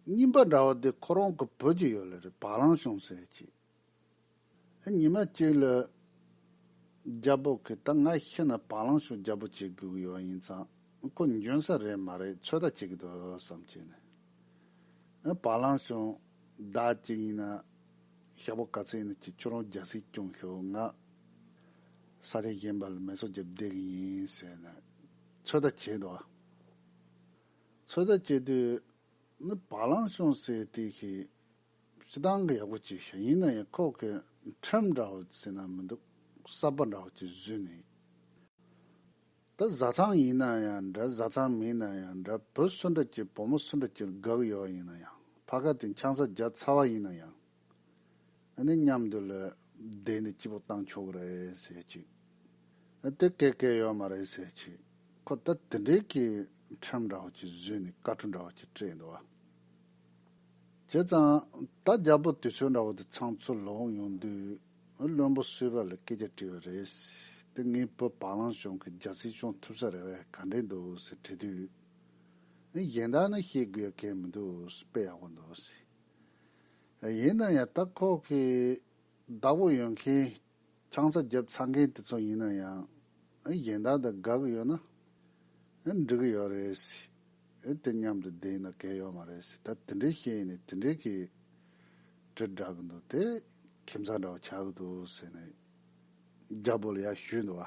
རྙིང་པ་འདྲ་བ་འདི་ཁོ་རང་གི་བོད་ཀྱི་ཡོད་ལ་རེད་བ་གླང་ཤོང་ཟེར་གྱིས། ཨ་ཉི་མ་གཅིག་ལ། རྒྱ་བོད་ཁི་ད་ང་ཤི་ན་བ་གླང་ཤོང་རྒྱ་བོད་བྱེད་དགོས་ཀྱི་ཡོད་ཡིན་ཙང་ཁོ་འཇོན་ས་རེད་མ་རེད་ཚོད་ལྟ་བྱེད་ཀྱི་འདུག་བསམ་གྱིས་ནས། བ་གླང་ཤོང་བདག་གཅིག་ཡིན་ན་ཞྭ་བོ་ག་ཚད་ཡིན་ན་གྱིས་ཁྱོད་རང་རྒྱ་སེ་སྐྱོང་ཤོག་ང། ས་ཆ་གཞན་པ་ལ་མེ་སོག་བརྒྱབ་བསྡད་ཀྱི་ཡིན་ཟེར་ནས་ཚོད་ལྟ་བྱས་འདུག། ཚོད་ལྟ་བྱེད་དུས། ནི་བ་ལང་ཤོང་ཟེར་དུས་ཤི། ཤི་ཐང་གི་ཡག་པོ་བྱས་ཤིང་ཡིན་ན་ཡང་ཁོག་གི་ཁྲེམ་འདྲ་བོ་ཟེར་ན་མི་འདུག་གསར་པ་འདྲ་བོ་ཅིག་བཟོས་ནས་ཡོད། ད་བཟའ་ཚང་ཡིན་ན་ཡང་འདྲ་བཟའ་ཚང་མིན་ན་ཡང་འདྲ་བུ་སུ་འདྲ་གྱིས་བུ་མོ་སུ་འདྲ་གྱིར་དགག་ཡོད་ཡིན་ན་ཡང་ཕ་ག་དེ་འཆང་ས་བརྒྱ་ཚ་བ་ཡིན་ན་ཡང། ཨ་ནི་མཉམ་དུ་ལོས་བསྡད་ནས་སྐྱིད་པོ་བཏང་ཆོག་རེད་ཟེར་གྱིས། ཨ་དེ་སྐད་སྐད་ཡོད་མ་རེད་ཟེར་གྱིས། ཁོ་ད་དེ་འདྲའི་སྐྱིད་ཁྲམ་འདྲ་བོ་ཅིག་བཟོས་ནས་ཀ་ཁྲུ་འདྲ་བོ་ཅིག་སྤྲད་འདུག་ཨ། བྱས་ཙང་ད་རྒྱ་བོད་དུས་ཚོད་འདྲ་བོ་དེ་ཚང་ཚུར་ལོག་ཡོང་དུས་ཨ་བློན་པོ་བསུས་པ་ལ་སྐད་ཆ་དྲིས་པ་རེད། དེ་ངས་བོད་བག་ལང་གཞུང་གི་རྒྱ་སྲིད་སྐྱོང་ཐུབ་ས་རེད་བས་ག་འདྲས་འདུག་ཟེར་དྲིས་དུས། གཞན་དག་ནི་བཤད་དགོས་ཡ་གལ་མི་འདུག་དཔེ་ཡག་པོ་འདུག་ཟེར། ཡིན་ན་ཡང་ད་ཁོག་གི་བདག་པོ་ཡོད་མཁན་ཆང་ས་རྒྱབ་ཚར་མཁན་དེ་ཚོ་ཡིན་ན་ཡང་གཞན་དག་དང་དགའ་གི་ཡོད་ན་འགྲིག་གི་ཡོད་རེད་སྲིད་དེ་མཉམ་དུ་བསྡད་ན་གལ་ཡོད་མ་རེད་སྲིད་ད་དེ་འདྲའི་བཤད་ནས་དེ་འདྲའི་གི་དྲིལ་བསྒྲག་གི་འདུག་དེ་ཁྱིམ་ཚང་འདྲ་བ་ཆགས་གི་འདུག་ཟེར་ནས་རྒྱ་པོ་ལ་ཡར་ཞུས་འདུག་བ།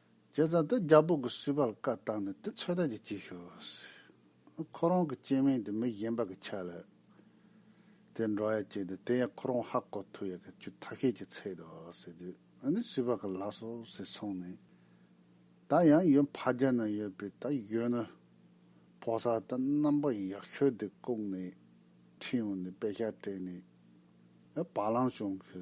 ཁྱེད་ཚང་དེ་རྒྱ་བོད་ཀྱི་སུས་པར་བཀའ་བཏང་ནས་དེ་ཚོད་ལྟ་གྱིས་བྱེད་ཤོག། ཁོ་རང་གི་སྐྱེས་དམན་དེ་མི་གཞན་པ་གི་ཆ་ལ་དེ་འགྲོ་ཡ་བྱེད་དེ་དེ་ཡང་ཁོ་རང་ཧ་གོ་ཐུབ་ཡ་གི་ཆུ་ཐག་ཤད་ཀྱི་ཚད་དུ་ཟེར་དུས་ནི་སུས་པར་གི་ལགས་སོ་ཟེར་སོང་ནས་ད་ཡང་ཡོད་འཕགས་རྒྱ་ན་ཡོད་པའི་ད་ཡོད་ནི་ཕོ་གསར་དེ་རྣམ་པ་ཡག་ཤོས་དེ་བཀུག་ནས་ཁྲིན་ཡོང་ནས་དཔེ་ཆ་སྤྲད་ནས་བ་ལང་བྱུང་གི་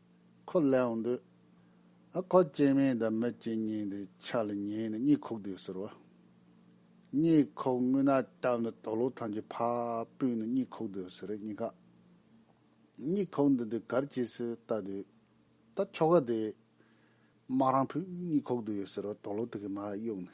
ཁོ་ལས་འོང་དུས། ཨ་ཁོ་སྐྱེས་མིང་དང་མི་སྐྱེས་སྙིང་དེ་ཆ་ལ་ཉན་ནས་གཉིད་ཁུག་དུས་ཟེར་བ། གཉིད་ཁུག་ངུས་ན་སྟབས་འདི་དོག་ལུག་ཐང་ཆེ་ཕ་སྤུན་ནི་གཉིད་ཁུག་དུས་ཟེར་གཉིད་ཁ། གཉིད་ཁུག་འདི་དུས་གར་སྐྱེས་སུ་ལྟ་དུས། ད་ཁྱོ་ག་དེས། མ་རང་ཕུད་གཉིད་ཁུག་དུས་ཡོད་ཟེར་བ་དོག་ལུག་དེ་གིས་མ་གཡུག་ནས།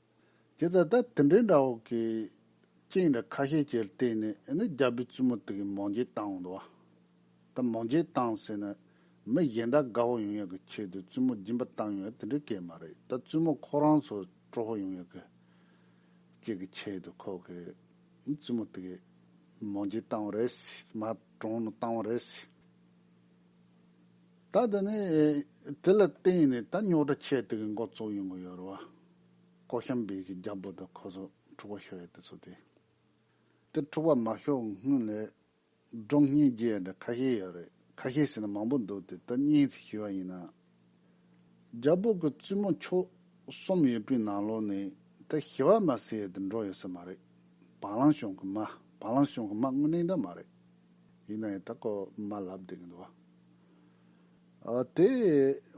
དེ་ལྟར་ད་དེ་འདྲའི་འདྲ་བོ་གི་རྐྱེན་ར་ཁ་ཤས་ཀྱིར་བརྟེན་ནས་ནི་རྒྱ་བོད་བཙུན་མོ་དག་གི་མོ་འཇེ་བཏང་བ་འདུག་བ། ད་མོ་འཇེ་བཏང་ཟེར་ན་མི་གཞན་དག་དགའ་བོ་ཡོང་ཡག་གི་ཆེད་དུ་བཙུན་མོ་སྦྱིན་པ་བཏང་ཡོད་དེ་འདྲའི་སྐད་མ་རེད་ད་བཙུན་མོ་ཁོ་རང་ཚོ་སྤྲོ་བོ་ཡོང་ཡག་གི་ཅེས་ཀྱི་ཆེད་དུ་ཁོ་གི་བཙུན་མོ་དག་གི་མོ་འཇེ་བཏང་བ་རེད་སི་མ་གྲོང་ནས་བཏང་བ་རེད་སི། ད་ལྟ་ནི་དེ་ལ་བརྟེན་ནས་ད་རྙོག་དྲ་ཆེ་དེ་གི་མགོ་བཙུགས་ཡོང་གི་ཡོད་རེད་བ། ཀོ་ཤམ་བེ་གི་རྒྱ་བོད་དུ་ཁོ་ཚོ་འཁྲུག་པ་ཤོར་ཡོད་དེ་ཚོ་དེ། དེ་འཁྲུག་པ་མ་ཤོར་སྔོན་ལས་སྒྲོག་བསྙན་རྒྱས་འདྲ་ཁ་ཤས་ཡོད་རེད་ཁ་ཤས་ཟེར་ན་མང་པོ་འདུག་དེ་ད་བསྙན་ཚིག་ཞུས་བ་ཡིན་ན། རྒྱ་བོད་ཀྱི་བཙུན་མོ་མཆོག་གསུམ་ཡོད་པའི་ནང་ལོགས་ནས་དེ་ཞི་བ་མ་སེ་ཡོད་དུ་འགྲོ་ཡོད་ས་མ་རེད། བང་ལང་ཞོང་གི་མ་བང་ལང་ཞོང་གི་མ་དངོས་གནས་འདི་མ་རེད། ཡིན་ན་ཡང་ད་ཀོ་མ་ལབ་བསྡད་གི་འདུག་ཨ། དེ་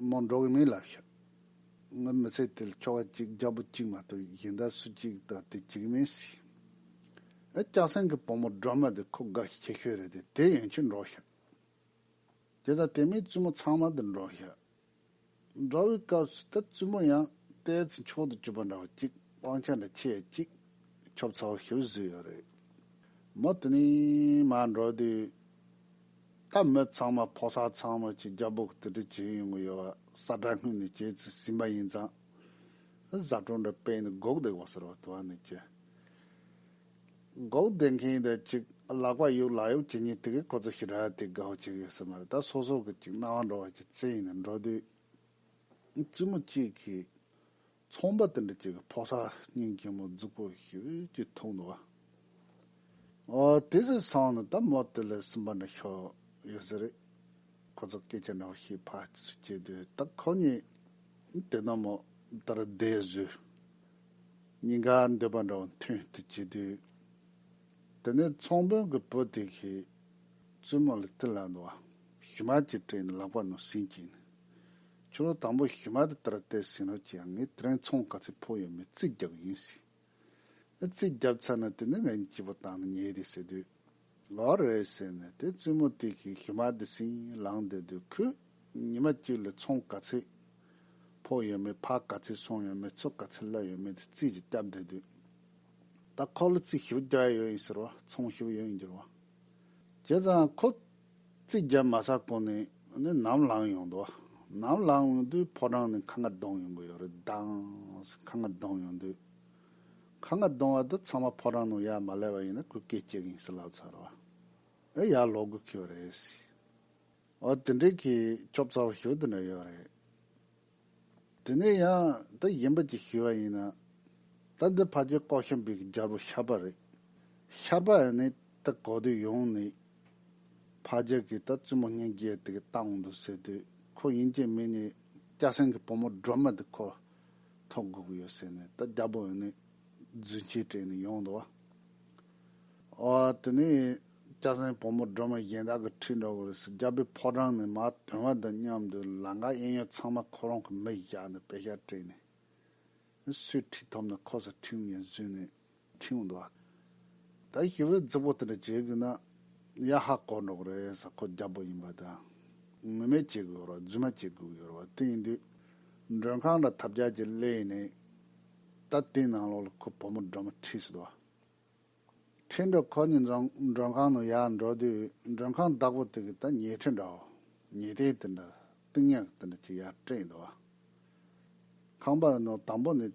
མོ་འགྲོ་གི་མིན་ལབ་ཤག། ངའི་མི་ཚེ་དེ་ལ་ཁྱོ་ག་གཅིག་རྒྱ་བོ་གཅིག་མ་གཏོགས་གཞན་དག་སུ་གཅིག་དང་དེ་གཅིག་མིན་སྲིད། ཨ་སྐྱག་སེང་གི་བུ་མོ་སྒྲོལ་མ་དེ་ཁོ་དགའ་ཤི་ཁྱི་ཤོས་རེད་དེ་དེ་ཡན་ཆོད་འགྲོ་ཤག། དེ་དང་དེ་མིན་བཙུན་མོ་ཚང་མ་འདིར་འགྲོ་ཤག། འགྲོ་བའི་སྐབས་སུ་ད་བཙུན་མོ་ཡང་ལྟས་ཚེ་མཆོག་ཏུ་གྱུར་པ་འདྲ་བ་གཅིག་དབང་ཆ་འདྲ་ཁྱེད་གཅིག་ཁྱོབ་ཚ་བོ་ཞིག་བཟོས་ཡོད་རེད། མོ་དེ་ནས་མར་འགྲོ་དུས། ད་མི་ཚང་མ་ཕོ་གསར་ཚང་མ་གཅིག་རྒྱ་སྦུག་ཏི་ཏི་བྱེད་ཡོང་གི་ཡོད་བ་ས་དགྲ་སྔུན་ནས་བྱས་ཚུལ་ཟིན་པ་ཡིན་ཙང། བཟའ་བཏུང་འདྲ་སྤེལ་ནས་སྒུག་བསྡད་དགོས་ཟེར་བ་དུ་བ་ནས་ཅི། སྒོག་སྡེ་མཁན་ཡིན་ད་ཅིག་ལག་པ་གཡུག་ལག་གཡུག་བྱེད་ཉིན་དེ་གའི་ཁོ་ཚོ་ཞི་ར་ཏི་དགའ་བོ་ཅིག་ཡོད་ས་མ་རེད་ད་སོ་སོ་གི་ཅིག་སྣང་བ་འགྲོ་བ་ཅིག་བཙན་ཡིན་ན་འགྲོ་དུས། བཙུན་མོ་གཅིག་གིས་ཚོང་པ་དེ་འདྲ་ཅིག་གི་ཕོ་སར་སྙིང་གྱེན་མོ་རྫུག་པོ་ཞིག་གིས་འཐུང་འདུག་ཨ། ཨོ་དེ་ཟིག་སོང་ནི་ད་མོ་དེ་ལས་སུ་འབར་ནས་ཤོར་ཡོད་ས་རེད། ཁོ་ཚོ་སྐད་ཆ་འདྲ་བོ་ཞིག་ཕར་ཚུར་བྱེད་དུས་ད་ཁོ་གཉིས་དེ་ནོར་མོ་ད་ར་བསྡད་བཟོས། སྙིང་ག་འདོད་པ་འདྲ་བ་མཐུན་དུ་བྱེད་དུས། དེ་ནས་ཚོང་དཔོན་གྱི་བུ་དེ་གིས་བཙུན་མོ་ལ་དེ་ལ་འདུ་བ་ཞི་མ་ཅིག་སྤྲད་ནས་ལག་པ་ནང་བསྲིངས་ཀྱིན། ཁྱོད་ལོ་དང་པོ་ཞི་མ་དེ་ལྟར་བལྟས་ཟིན་རོགས་ཀྱིས་ངས་དེ་རིང་ཚོང་ག་ཚད་ཕོག་ཡོད་མེད་རྩིས་རྒྱག་གི་ཡིན་ཟེར། ཨེ་རྩིས་བརྒྱབ་ཚར་ན་དེ་ནས་ངས་སྐྱིད་པོ་བཏང་ནས་ཉལ་གི་ཟེར་དུས། ལོག་རེད་ཟེར་ནས་དེ་བཙུན་མོ་དེ་གིས་ཞུ་མ་དེ་ཟིན་ལངས་དེ་དུས་ཁོས་ཉི་མ་གཅིག་ལ་ཚོང་ག་ཚད་ཕོག་ཡོད་མེད་ཕག་ག་ཚད་སོང་ཡོད་མེད་ཚུགས་ག་ཚད་བསླབ་ཡོད་མེད་དེ་རྩིས་ཀྱིས་བསྐྱབས་དེ་དུས་ད་ཁོ་ལ་རྩིས་ཞུ་རྒྱག་ཡོད་ཡིན་ཟེར་བ་ཚོང་ཞུ་ཡོད་ཡིན་འགྱུར་བ་བྱས་ཙང་ཁོ་རྩིས་བརྒྱབ་མ་ས་གོ་ནས་ནས་ནམ་ལངས་ཡོང་དུས་ནམ་ལངས་ཡོང་དུས་ཕོ་བྲང་ནས་ཁ་ང་གདོང་ཡོང་གི་ཡོད་རེད་དྭངས་སེ་ཁ་ང་གདོང་ཡོང་དུས། ཁ་ང་གདོང་བ་འདི་ཚང་མ་ཕོ་བྲང་ནང་ཡར་མ་ལས་པ་ཡིན་ན་གུས་སྐད་སྐྱེ་གིན་སི་ལབ་ཚར་བ་ཨེ་ཡར་ལོག་དགོས་ཁེལ་བ་རེད་སི་ཨོ་དེ་འདྲའི་གི་སྐྱོབ་ཚ་བ་ཞོ་འདི་འདྲ་ཡོད་རེད་དེ་ནས་ཡང་ད་ཡིན་པ་ཅིག་ཞུས་བ་ཡིན་ན་ད་འདི་ཕ་ཇེ་ལྐོག་ཤམ་བུས་གི་རྒྱལ་པོ་ཤར་པ་རེད་ཤར་པ་ཨེ་ནི་ད་གོ་དུས་ཡོང་ནི་ཕ་ཇེ་གི་ད་བཙུན་མོ་སྙིང་རྗེ་དེ་གི་ལྟ་འོང་འདུག་ཟེར་དུས་ཁོ་ཡིན་ཅེས་མིན་ནི་སྐྱ་སེང་གི་བུ་མོ་སྒྲོལ་མ་འདི་ཁོ། ཐོག་སྒུག་ཡོད་ཟེར་ནས་ད་རྒྱ་པོ་ནས་རྫུན་ཆས་སྤྲད་ནས་ཡོང་འདུག་བ། ཨ་དེ་ནས་སྐྱ་སེང་བུ་མོ་སྒྲོལ་མ་གཞན་དག་གི་ཁྲི་འདྲ་བོ་རེད་ཟེར་རྒྱ་བོད་ཕོ་བྲང་ནས་མ་དོན་བ་དང་མཉམ་དུ་ལང་ཀ་གཡས་གཡོན་ཚང་མ་ཁོ་རང་གི་མིག་བཞག་ནས་བེ་ཤ་སྤྲད་ནས། སུས་ཁྲི་ཐོབ་ན་ཁོ་སར་ཁྲིམས་ཡིན་བཟོས་ནས་ཁྱིའུ་འདུག་ཨ། ད་ཞི་བའི་རྫི་བོ་དེ་འདྲ་བྱེད་དགོས་ན། ཡ་ཧ་དཀོར་འགྲོ་གི་རེད་ས་ཁོ་རྒྱ་བོད་ཡིན་པ་དང། ངུ་མེད་བྱེད་དགོས་ཡོད་རོགས་རྫུན་མ་བྱེད་དགོས་ཡོད་རོགས་དེ་ཡིན་དུས། མགྲོན་ཁང་འདྲ་ཐབས་བརྒྱ་ཅིག་གླས་ཡིན་ནའི། ད་དེའི་ནང་ལོགས་ལ་ཁོ་བུ་མོ་སྒྲོལ་མ་ཁྲིད་སྲིད་འདུག་ཨ། ཁྲིད་འགྲོ་ཁོ་གཉིས་འཛོམས་མགྲོན་ཁང་ནང་ཡར་འགྲོ་དུས་མགྲོན་ཁང་བདག་པོ་དེ་གིས་ད་ཉལ་ཁྲི་འདྲའོ། ཉལ་ཐེངས་དེ་འདྲ་རྟིང་ཡག་དེ་འདྲ་ཅིག་ཡར་སྤྲད་ཡིན་འདུག་ཨ། ཁང་པ་ནོར་དང་པོ་ནི་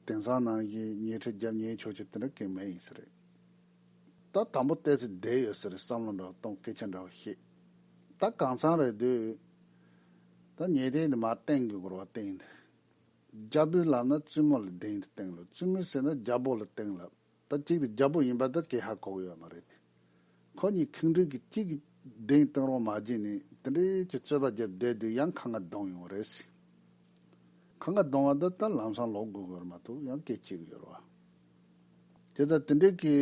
དེང་སང་ནང་བཞིན་ཉལ་ཁྲི་རྒྱབ་ཉལ་ཕྱོགས་ཆོས་དེ་འདྲ་གན་མེད་ཡིན་ས་རེད། ད་དང་པོ་བལྟས་ཚེ་བསྡད་ཡོད་ས་རེད་བསམ་བློ་འདྲ་བ་གཏོང་སྐད་ཆ་འདྲ་བ་བཤད། ད་གང་ཚང་རེད་དུས་ད་ཉལ་ཐེངས་འདི་མ་བསྟེན་གི་སྒོར་བ་བསྟེན་འདི། རྒྱ་བོད་ལབ་ན་བཙུན་མོ་ལ་བསྡད་འདི་བསྟེན་ལབ་བཙུན་མོ་ཟེར་ན་རྒྱ་བོ་ལ་བསྟེན་ལབ། ད་གཅིག་དེ་རྒྱལ་པོ་ཡིན་པ་དེ་ཀྱེ་ཧ་གོ་གི་ཡོད་མ་རེད། ཁོ་གཉིས་ཁེངས་དྲེགས་ཀྱི་གཅིག་གིས་གདན་སྟེང་རོ་མ་བརྒྱན་ནས་དེ་འདྲའི་ཀྱི་རྩོད་པ་བརྒྱབ་བསྡད་དུས་ཡང་ཁ་ང་གདོང་ཡོང་རེད་ཟེར། ཁ་ང་གདོང་བ་དེ་ད་ལམ་སང་ལོག་དགོས་དགོས་རེད་མ་གཏོགས་ཡང་སྐད་ཅིག་གི་ཡོད་རེད། དེ་ད་དེ་འདྲའི་ཀྱི་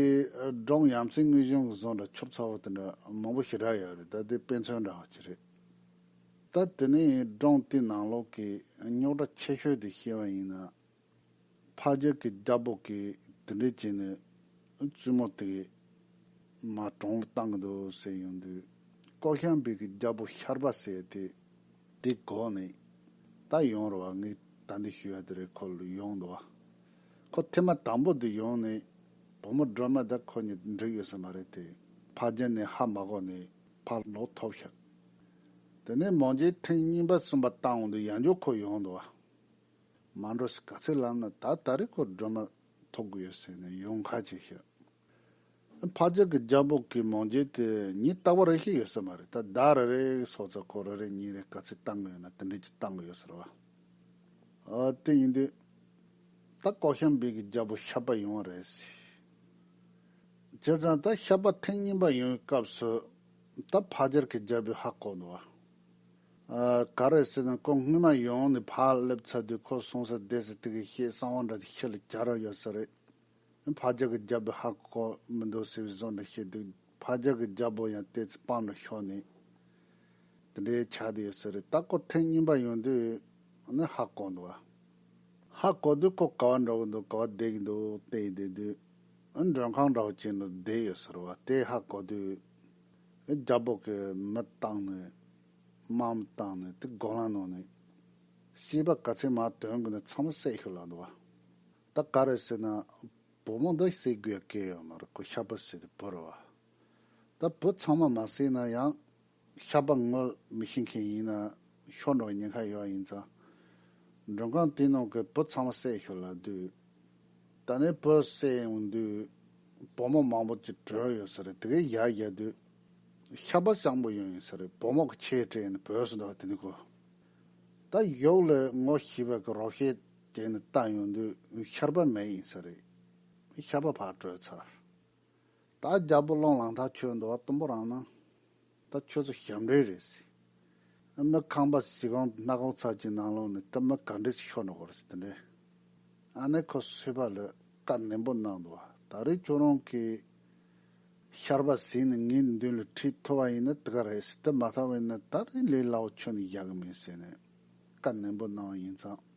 འབྲོང་ཡམ་སྲིང་དངུལ་གཞོན་གྱི་ཟོང་འདྲ་ཆོབ་ཚ་བོ་དེ་འདྲ་མང་པོ་ཞིག་རག་ཡོད་རེད་ད་དེ་དཔེ་མཚོན་འདྲ་བ་ཅིག་རེད། ད་དེ་ནས་འབྲོང་དེའི་ནང་ལོག་གི་རྙོག་དྲ་ཆེ་ཤོས་དེ་ཤེས་པ་ཡིན་ན། ཕ་རྒྱལ་གྱི་རྒྱ་དཔོག་གིས་དེ་འདྲས་བྱས་ནས་བཙུན་མོ་དེ་མ་གྲོངས་ལ་བཏང་གི་འདུག་ཟེར་ཡོང་དུས་ཀོ་ཤམ་བུས་ཀྱི་རྒྱ་དཔོག་ཤར་པ་བསད་དེ་དེ་གོ་ནས་ད་ཡོང་རོགས་ཨ་ངས་ད་འདི་ཞུས་ཡ་དེ་རེད་ཁོ་ལ་ཡོང་འདུག་བ། ཁོ་ཐེངས་མ་དང་པོ་དེ་ཡོང་ནས་བུ་མོ་སྒྲོལ་མ་དང་ཁོ་གཉིས་འགྲིག་ཡོད་ས་མ་རེད་དེ་ཕ་རྒྱལ་ནས་ཧ་མ་གོ་ནས་ཕ་ལོག་ཐོབ་ཤག་དེ་ནས་མོ་རྗེས་ཐེངས་གཉིས་པ་གསུམ་པ་བཏང་འོང་དུས་ཡང་འཇོག་ཁོ་ཡོང་འདུག་བ། མ་འགྲོ་ཟེར་ག་ཚད་ལབ་ན་ད་ད་རེས་ཁོ་སྒྲོལ་མ་ཐོབ་གི་ཡོད་ཟེར་ནས་ཡོང་ཁ་ཅིག་ཤི། འཕགས་རྒྱལ་གྱི་རྒྱ་འབོག་གི་མོང་རྒྱལ་དེ་ཉིད་ལྟ་བ་རེ་ཞིག་ཡོད་ས་མ་རེད་ད་ཟླ་རེ་རེའི་སྲོག་རྩ་ཁོ་རེ་རེ་ཉིན་རེ་ག་ཚད་བཏང་གི་ཡོད་ན་དེ་འདྲས་ཀྱིས་བཏང་གི་ཡོད་ཟེར་བ། ཨོ་དེ་ཡིན་དུས། ད་ཀོག་ཤམ་སྦིས་ཀྱི་རྒྱལ་པོ་ཤར་པ་ཡོང་བ་རེད་ཟེར། བྱས་ཙང་ད་ཤར་པ་ཐེངས་གཉིས་པ་ཡོང་བའི་སྐབས་སུ། ད་འཕགས་རྒྱལ་གྱི་རྒྱལ་པོས་ཧ་ལྐོག་འདུག་བ། ག་རེ་ཟེར་ན་ཁོ་སྔོན་མ་ཡོང་ནས་ཕར་སླེབས་ཚར་དུས་ཁོ་སོང་ས་བསྡད་ས་དེ་ག་ཤེད་གསང་བ་འདྲ་དེ་ཁྱེད་ལ་གྱར་ཡོད་ས་རེད། ཕ་རྒྱག་གི་རྒྱ་བོད་ཧ་གོ་གོ་མི་འདུག་ཟེར་བའི་བཟོ་འདྲ་ཤེས་འདུག་ཕ་རྒྱག་གི་རྒྱ་བོ་ཡང་ལྟས་ཚེ་པང་དུ་ཤོར་ནས་དེ་འདྲའི་ཆགས་བསྡད་ཡོད་ས་རེད་ད་ཁོ་ཐེངས་གཉིས་པ་ཡོང་དུས་ནི་ཧ་གོ་འདུག་ཨ། ཧ་གོ་དུས་ཁོ་ག་བ་འགྲོ་གི་འདུག་ག་བ་བསྡད་ཀྱི་འདུག་བལྟས་བསྡད་དུས་མགྲོན་ཁང་འདྲ་བོ་ཅན་དུ་བསྡད་ཡོད་ས་རེད་བ་དེ་ཧ་གོ་དུས། རྒྱ་སྦོག་གི་མི་བཏང་ནས་དམག་མི་བཏང་ནས་དེ་སྒོ་ལངས་གནང་ནས་ཤེས་པ་ག་ཚད་མ་དོན་དགོས་ན་ཚང་མ་བསད་ཤོག་ལབ་འདུག་བ་ད་ག་རེ་བསད་ན་བུ་མོ་འདི་བསད་དགོས་ཡ་སྐད་ཡོད་མ་རེད་ཁོ་ཤ་བུ་བསད་དེ་བུ་རུ་བ་ད་བུ་ཚང་མ་མ་བསད་ན་ཡང་ཤ་བུ་ངོ་མི་ཤེས་མཁན་ཡིན་ན་ཤོག་འགྲོ་བ་ཉེན་ཁ་ཡོད་ཡིན་ཙང་མགྲོན་ཁང་དེ་ནང་གི་བུ་ཚང་མ་བསད་ཤོག་ལབ་དུས། ད་ནི་བོད་བསད་ཡོང་དུས་བུ་མོ་མང་པོ་ཅིག་བྲོས་ཡོད་ས་རེད་དེ་གའི་ཡར་རྒྱལ་དུས་ཤ་བ་སྤྱང་པོ་ཡོང་ཡོད་ས་རེད་བུ་མོ་གི་ཁྱེད་བྲོས་ནས་བོད་བསད་འདུག་བ་དེ་ནི་གོ་ད་གཡོག་ལོས་ངོ་ཤེས་པའི་གི་རོགས་ཤེས་བྱས་ནས་བལྟ་ཡོང་དུས་ཤར་པ་མེད་ཡིན་ས་རེད་ཤ་བ་བག་བྲོས་ཚར་ད་རྒྱལ་པོ་སློང་ལང་ཐག་ཆོད་འདུག་བ་གཏུམ་པོ་རང་སྣང། ད་ཁྱོད་ཚོ་ཞབས་འདྲེན་རེད་ཟེར། ཨ་ནི་ཁང་པ་བྱིས་པའམ་སྣ་གོང་ཚར་གཅིག་ནང་ལོག་ནས་བཏབ་ན་ག་འདྲས་ཆེ་ཤོག་ནི་གོ་རེ་ཟེར་དེ་འདྲས། ཨ་ནི་ཁོ་བསོད་པ་ལོས་བཀའ་ནན་པོ་གནང་འདུག་ད་རེས་ཁྱོད་རང་གིས་ཤར་པ་ཟིན་ནས་ངའི་མདུན་ལ་ཁྲིད་མཐོ་བ་ཡིན་ན་དེ་ག་རེད་ཟེར་དེ་མ་ཐག་བས་ན་ད་རེས་ལས་སླ་བོ་ཁྱོད་ནས་བཞག་གི་མིན་ཟེར་ནས་བཀའ་ནན་པོ་གནང་བ་ཡིན་ཙང།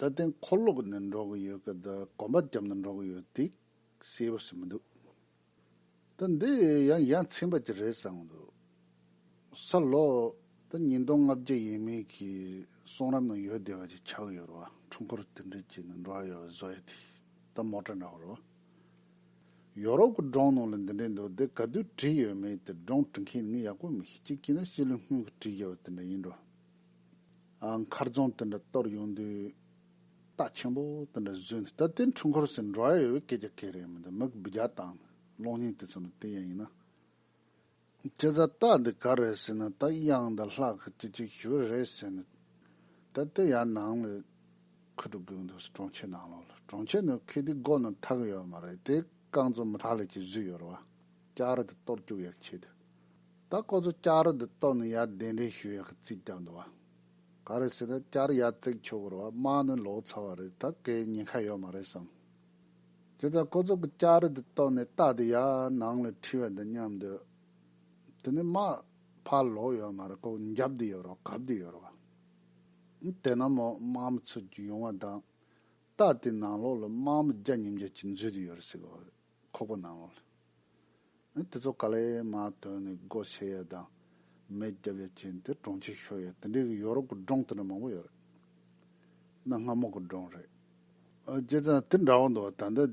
ད་ཐེངས་འཁོར་ལོ་ནས་འགྲོ་གི་ཡོད་སྐད་དུ་གོམ་པ་རྒྱབ་ནས་འགྲོ་གི་ཡོད་འདུག་ཤེས་པོ་ཞིག་མི་འདུག་ད་འདི་ཡང་ཡ་མཚན་པ་ཅིག་རེད་བསམ་གི་འདུག་ས་ལོ་ད་ཉིས་སྟོང་ལྔ་བརྒྱ་ཡས་མས་ཀྱི་གསུང་རབ་ནང་ཡོད་བསྡད་པ་ཅིག་ཆགས་ཡོད་རེད་བ་འཁྲུངས་འཁོར་དེ་འདྲས་ཀྱི་ནང་འགྲོ་ཡ་ཡོད་པ་བཟོ་ཡ་དེ་ད་མོ་ཏྲ་འདྲ་བོ་རེད་བ། ཡོ་རོབ་ཀྱི་སྒྲོང་ནང་ལ་འདི་འདྲས་འདུག་དེ་ག་དུས་བྲིས་ཡོད་མེད་དེ་སྒྲོང་བྲི་མཁན་ནི་ངས་ཡག་པོ་མི་ཤེས་གཅིག་བྱས་ན་ཤེས་ལུས་སྔོན་གྱི་བྲིས་ཡོད་པ་དེ་འདྲ་ཡིན་འགྲོ། མཁར་རྫོང་དེ་འདྲ་གཏོར་ཡོང་དུས་རྟ་ཆེན་པོ་དེ་འདྲ་བཟོས་འདུག་ད་དེ་འཁྲུངས་འཁོར་ཟེར་འགྲོ་ཨ་ཡོད་པའི་སྐད་ཆ་ག་རེ་མི་འདུག་མི་སྦི་རྒྱག་སྟངས་དང་གློག་བརྙན་དེ་ཚོ་ནི་དེ་ཡང་ཡིན་ན། ཁྱེད་རང་རྟ་འདི་ག་རེད་ཟེར་ན་རྟ་དབྱངས་དང་ལྷག་གི་དེ་ཅིག་ཞུ་བ་རེད་ཟེར་ནས་ད་དེ་ཡང་ནང་ལ་འཁུར་དུ་བསྒུགས་འདུག་གྲོང་ཁྱེར་ནང་ལོགས་ལ་གྲོང་ཁྱེར་ནང་ཁེ་དེའི་སྒོ་ནང་ཐག་ཡོད་མ་རེད་དེ་རྐང་ཚོ་མི་ཐག་ལས་ཀྱི་བཟོས་ཡོད་རེད་བ་སྐྱར་དེ་གཏོར་བཅུག་ཡག་ཆེད་དུ། ད་ཁོ་ཚོ་བསྐྱར་དུ་བཏོན་ནས་ཡར་གདན་རེ་ཞུ་ཡག་གི་རྩིས་རྒྱག་འདུག་བ། ག་རེ་ཟེར་ན་བསྐྱར་ཡར་བརྩིགས་ཆོག་གི་རེད་བ་དམག་ནི་ལོག་ཚར་བ་རེད་ད་གའི་ཉེན་ཁ་ཡོད་མ་རེད་བསམ། དེ་ལྟར་ཁོ་ཚོ་གི་བསྐྱར་དུ་བཏོན་ནས་རྟགས་དེ་ཡར་ནང་ལ་འཁྲིད་བ་འདི་སྙམ་འདོད། དེ་ནི་དམག་ཕར་ལོག་ཡོད་མ་རེད་ལྐོག་འགྱབ་དུ་ཡོད་རོགས་གབ་དུ་ཡོད་རོགས་བ། དེ་ན་མོ་དམག་མི་ཚུར་རྒྱུག་ཡོང་བ་དང། རྟགས་དེ་ནང་ལོག་ལ་དམག་མི་བརྒྱ་ཉིས་བརྒྱ་ཅིག་འཛུལ་དུ་ཡོད་རེད་ཟེར་གི་རེད། ཁོག་པ་ནང་ལ། ཨེ་དེ་ཚོ་ཀ་ལས་མ་དོན་ནི་སྒོ་ཕྱེ་ཡ་དང། མེ་བརྒྱབ་ཡ་བྱས་ནི་དེ་གྲོང་ཁྱེར་ཤོར་ཡ་དེ་འདྲའི་གི་ཡོ་རོབ་ཀི་གྲོང་དེ་འདྲ་མང་པོ་ཡོད་རེད། གནའ་སྔ་མོ་གི་གྲོང་རེད། བྱས་ཙང་དེ་འདྲ་བོ་འདུག་ད་ལྟ་དེ།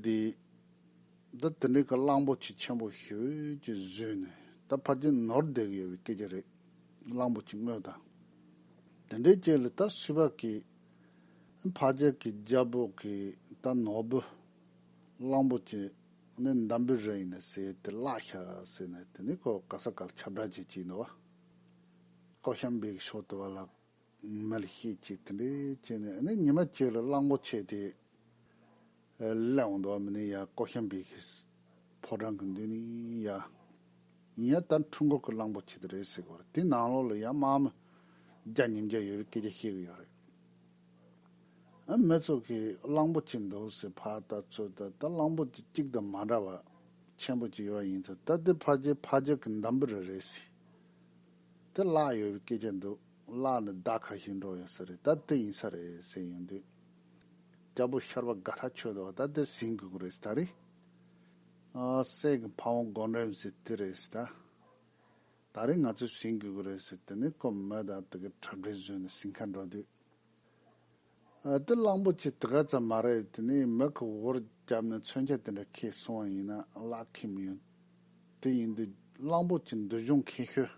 ད་དེ་འདྲའི་གི་གླང་པོ་ཆེ་ཆེན་པོ་ཤོས་ཀྱི་བཟོས་ནི་ད་ཕར་ཆེ་ནོར་བསྡད་གི་ཡོད་པའི་སྐད་ཆ་རེད། གླང་པོ་ཆེ་དངོས་དང། དེ་འདྲའི་སྐྱེས་ལ་ད་སུས་བ་གི། ཨེ་ཕར་ཆེར་གི་རྒྱ་བོད་གི་ད་ནོར་བུ། གླང་པོ་ཆེ་ནི་འདམ་བུའི་རི་ཡིན་ཟེར་དེ་བརླག་ཤ་ཟེར་ནས་དེ་ནི་ཁོ་ག་ས་ག་ལ་ཁྱབ་བསྒྲགས་བྱེད་ཀྱི་འདུག་བ། ཀོ་ཤམ་བེའི་ཕྱོགས་དུ་བ་ལ་མལ་བཤད་ཅིག་དེ་འདྲས་བྱས་ནས་ནི་ཉི་མ་བཅས་ལ་གླང་པོ་ཆེ་དེ་བསླད་འོང་འདུག་བ་མི་ནི་ཡ་ཀོ་ཤམ་བེ་གི་ཕོ་བྲང་གི་མདུན་ནི་ཡ་ཡིན་ཡ་ད་འཕྲུལ་འཁོར་གི་གླང་པོ་ཆེ་དེ་རེད་ཟེར་གི་ཡོད་རེད་དེའི་ནང་ལོགས་ལ་ཡ་དམག་མི་བརྒྱ་ཉིས་བརྒྱ་ཡོད་རེད་སྐད་ཆ་བཤད་གི་ཡོད་རེད། མི་ཚོགས་ཀྱིས་གླང་པོ་ཆེ་འདུག་ཟེར་བ་ལྟ་ཚུལ་དེ་ལྟར་གླང་པོ་ཆེ་གཅིག་དང་མ་འདྲ་བ་ཆེན་པོ་གཅིག་ཡོད་ཡིན་ཚེ་ད་ལྟའི་ཕ་རྗེས་ཕ་རྗེས་ཀྱི་འདམ་བུ་རེ་རེད་ཟེར། དེ་གླགས་ཡོད་པའི་སྐད་ཆ་འདུག་གླགས་ནི་ཟླ་ཁ་ཞིག་འགྲོ་ཡོད་ས་རེད་ད་དེ་ཡིན་ས་རེད་ཟེར་ཡོང་དུས། རྒྱལ་པོ་ཤར་པ་དགའ་ཐག་ཆོད་འདུག་ད་དེ་ཟིན་དགོས་ཀྱི་རེད་ཟེར་ད་རེད། སྲས་ཀྱི་ཕ་བོང་སྒོ་འགྲམ་ཟེར་དེ་རེད་ཟེར་ད། ད་རེས་ང་ཚོས་བཞེངས་དགོས་ཀྱི་རེད་ཟེར་དེ་ནས་སྐོམ་སྨོས་དང་དེ་གའི་འཁྲབ་གྲས་བཟོས་ནས་ཞིང་ཁར་འགྲོ་དུས། ཨ་ཏི་གླང་པོ་ཆེ་དེ་ག་ཙམ་མ་རེད་དེ་ནས་མི་གི་འོག་རུ་བརྒྱབ་ནས་མཚོན་ཆ་དེ་འདྲ་ཁྱེར་སོང་བ་ཡིན་ན་གླགས་ཁེ་མི་ཡོང། དེ་ཡིན་དུས་གླང་པོ་ཆེ་འདུལ་སྦྱོང་མཁས་ཤོས་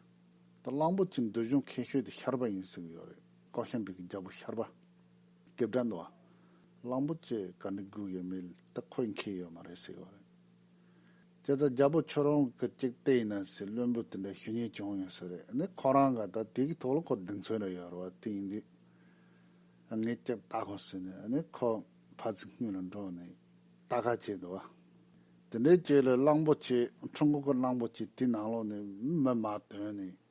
དང་གླང་པོ་ཆེ་འདུལ་སྦྱོང་མཁས་ཤོས་དེ་ཤར་པ་ཡིན་ཟེར་གྱི་ཡོད་རེད་ཀོ་ཤམ་བི་གི་རྒྱལ་པོ་ཤར་པ། སྐེ་བཀྲ་འདུག་ཨ། གླང་པོ་ཆེ་ག་འདྲ་དགོས་ཀྱི་མེད་དེ་ཁོས་མཁས་ཡོད་མ་རེད་ཟེར་གྱི་ཡོད་རེད། ཁྱེད་ཚོ་རྒྱལ་པོ་ཁྱོད་རང་གི་ཅིག་བལྟས་ཡིན་ནམ་ཞེས་བློན་པོས་དེ་འདྲའི་ཞུ་སྙན་བྱུང་ཡོད་ཟེར་རེད་ནི་ཁོ་རང་ག་ད་དུས་ཀྱི་ཐོག་ལ་ཁོ་རྡུལ་མཚོན་རེ་ཡོད་རེད་བ་དེ་ཡིན་དུས་ངས་ཅིག་བལྟ་དགོས་ཟེར་ནས་ནི་ཁོ་ཕ་ཚི་སྔུན་ལ་འགྲོ་ནས་བལྟ་ཁ་བྱས་འདུག་བ། དེ་འདྲའི་བྱས་ལ་གླང་པོ་ཆེ་ཁྲུང་ཁུག་གི་གླང་པོ་ཆེ་དེའི་ནང་ལོགས་ནས་མི་མ་དོན་ནས་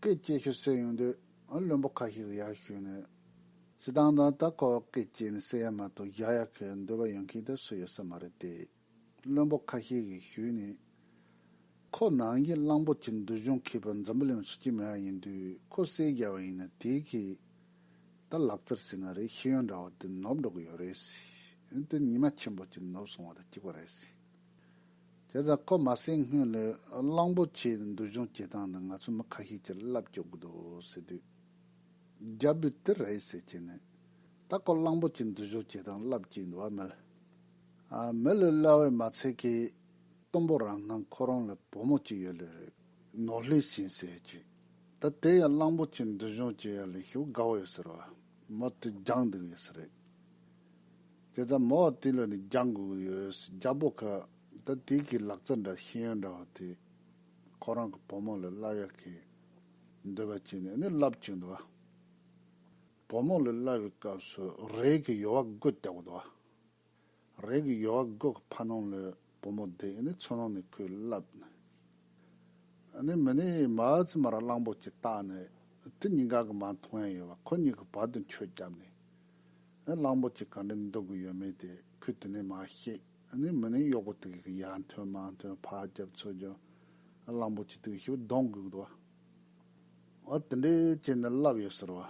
སྐད་སྐྱེས་ཤོད་སྲོལ་ཡོང་དུས་བློན་པོ་ཁ་ཤས་ཀྱི་ཡར་ཞུས་ནས་སྲིད་ཏང་དང་ད་ཁོ་བོ་སྐད་སྐྱེས་ནས་སྲིད་ཡར་མ་གཏོགས་ཡར་ཡར་ཁའི་འདོད་པ་ཡོང་མཁན་དེ་སུ་ཡོད་ས་མ་རེད་དེ། བློན་པོ་ཁ་ཤས་ཀྱིས་ཞུས་ནས། ཁོ་ནང་གི་གླང་པོ་ཆེ་འདུལ་གཞུང་མཁས་པ་འཛམ་བུ་གླིང་ལ་ཆེས་སྐྱིད་མེད་པ་ཡིན་དུས་ཁོ་བསད་རྒྱག་པ་ཡིན་ན་དེ་གིས་ད་ལག་རྩེར་སྲིད་ན་རེ་ཤེས་ཡོན་འདྲ་བ་དེ་ནོར་འགྲོ་གི་ཡོད་རེད། དེ་ཉི་མ་ཆེན་པོ་གཅིག་ནོར་སོང་བ་དང་གཅིག་པ་རེད། དེ་ཙམ་གོ་མ་ཟིན་སྔོན་ལ་གླང་པོ་ཆེའི་འདུལ་གཞུང་བྱེད་སྟངས་དེ་ང་ཚོའི་མི་ཁ་ཤས་ཀྱིས་བསླབ་བཅུག་གི་འདུག་ཟེར་དུས། རྒྱ་བོད་དེ་རེད་ཟེར་གྱི་ནི། ད་གོ་གླང་པོ་ཆེའི་འདུལ་གཞུང་བྱེད་སྟངས་བསླབ་ཀྱི་འདུག་བ་མི་ལ། མི་ལ་གླ་བས་མ་ཚད་ཀི། གཏུམ་པོ་རང་སྣང་ཁོ་རང་ལ་བུ་མོ་གཅིག་ཡོད་ལོས་རེད། ནོར་ལྷས་ཤིང་ཟེར་གྱི། ད་དེ་ཡང་གླང་པོ་ཆེའི་འདུལ་གཞུང་བྱེད་ཡ་ལ་ཞུགས་དགའ་བོ་ཡོད་ཟེར་བ། མོ་དེ་སྦྱངས་འདུག་ཡོད་ས་རེད། དེ་ལྟར་མོ་བ་དེ་ལ་ནི་རྒྱག་དགོས་ཀྱི་ཡོད་རྒྱག་པོ་ཁ་ད་དེ་གི་ལག་རྩལ་འདྲ་ཤེས་ཡོན་འདྲ་བ་དེ་ཁོ་རང་གི་བུ་མོ་ལ་བསླབ་ཡག་གི་འདོད་པ་བྱས་ནས་ནི་བསླབ་བཅུག་འདུག་བ། བུ་མོ་ལ་བསླབ་བའི་སྐབས་སུ་རས་ཀྱི་ཡོལ་བ་དགོད་བཏགས་འདུག་བ། རས་ཀྱི་ཡོལ་བ་དགོད་ཁ་ཕ་ནོང་ལོས་བུ་མོ་དེ་ནི་མཚོ་ནང་ནས་ཁོའི་བསླབ་ནས་ཡོད། ནས་མི་ནི་མ་ཙི་མ་ར་གླང་པོ་ཅིག་བཏགས་ནས་དེ་གཉིས་ཀ་གི་མ་མཐོང་ཡ་ཡོད་པ་ཁོ་གཉིས་ཀྱི་བར་དུ་འཁྱོལ་བརྒྱབ་ནས་ནས་གླང་པོ་ཅིག་ག་འདྲས་འདུག་གི་ཡོད་མེད་དེ་ཁོས་དེ་ནས་མ་ཤེས། ནས་མི་ནི་གཡོག་པོ་དེ་ག་གི་ཡ་མཐོན་མ་མཐོན་ཕ་རྒྱབ་མཚོ་རྒྱབ་གླང་པོ་ཅིག་དེ་གི་ཤི་བོ་གདོང་གུག་འདུག་བ། བ་དེ་འདྲས་བྱས་ནས་བསླབ་ཡོད་ཟེར་བ།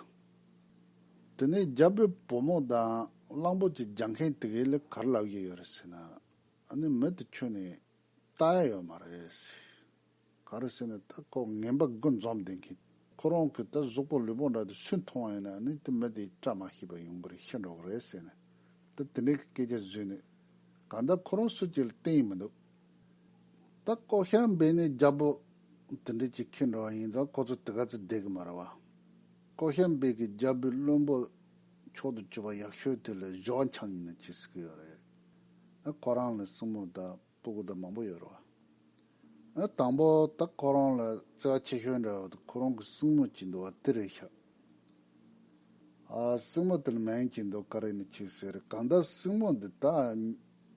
དེ་ནས་རྒྱབ་པའི་བུ་མོ་དང་གླང་པོ་ཅིག་རྒྱག་མཁན་དེ་གས་ལས་གར་བསླབ་ཡས་ཡོད་རེད་ཟེར་ན། ཨ་ནི་མི་དེ་ཁྱོད་ནི་ལྟ་ཡ་ཡོད་མ་རེད། ག་རེ་ཟེར་ནས་ད་ཁོག་ངན་པ་དགུ་འཛོམས་བསྡད་མཁན། ཁོ་རང་གིས་ད་གཟུགས་པོ་ལུས་པོ་འདྲ་དེ་སུས་མཐོང་བ་ཡིན་ན་ཨ་ནི་དེ་མི་དེའི་བཀྲ་མ་ཤིས་པ་ཡོང་གི་རེད་ཤི་འགྲོ་གི་རེད་ཟེར་ནས་ད་དེ་འདྲའི་གི་སྐད་ཆ་བཟོས་ནས་གང་ལྟར་ཁོ་རང་སུ་གཅིག་ལ་བསྟན་ཡི་མི་འདུག་ད་ལྐོག་ཤར་འབེན་ནས་རྒྱ་པོ་དེ་འདྲས་ཀྱིས་ཁེངས་འགྲོ་བ་ཡིན་ཙང་ཁོ་ཚོ་དེ་ག་ཚོད་བསྡད་གི་མ་རེད་བ། ལྐོག་ཤར་འབེན་གྱིས་རྒྱ་བོད་བློན་པོ་མཆོག་ཏུ་གྱུར་པ་ཡག་ཤོས་དེ་ལ་གཞོགས་འཆང་ཡིན་ན་ཅི་ཟེར་གི་ཡོད་རེད། ཨ་ཁོ་རང་ལ་སྲིང་མོ་དང་སྤུ་གུ་དང་མང་པོ་ཡོད་རོ། ཨ་དང་པོ་ད་ཁོ་རང་ལ་བརྩེ་བ་ཆེ་ཤོས་འདྲ་བ་དང་ཁོ་རང་གི་སྲིང་མོ་གཅིག་འདུག་བ་དེ་རེད་ཤག། ཨ་སྲིང་མོ་དེ་ལ་མན་གཅིག་འདུག་ཀ་རེ་ནས་ཁྱེད་ཟེར་གང་ལྟར་སྲིང་མོ་འདི་ད་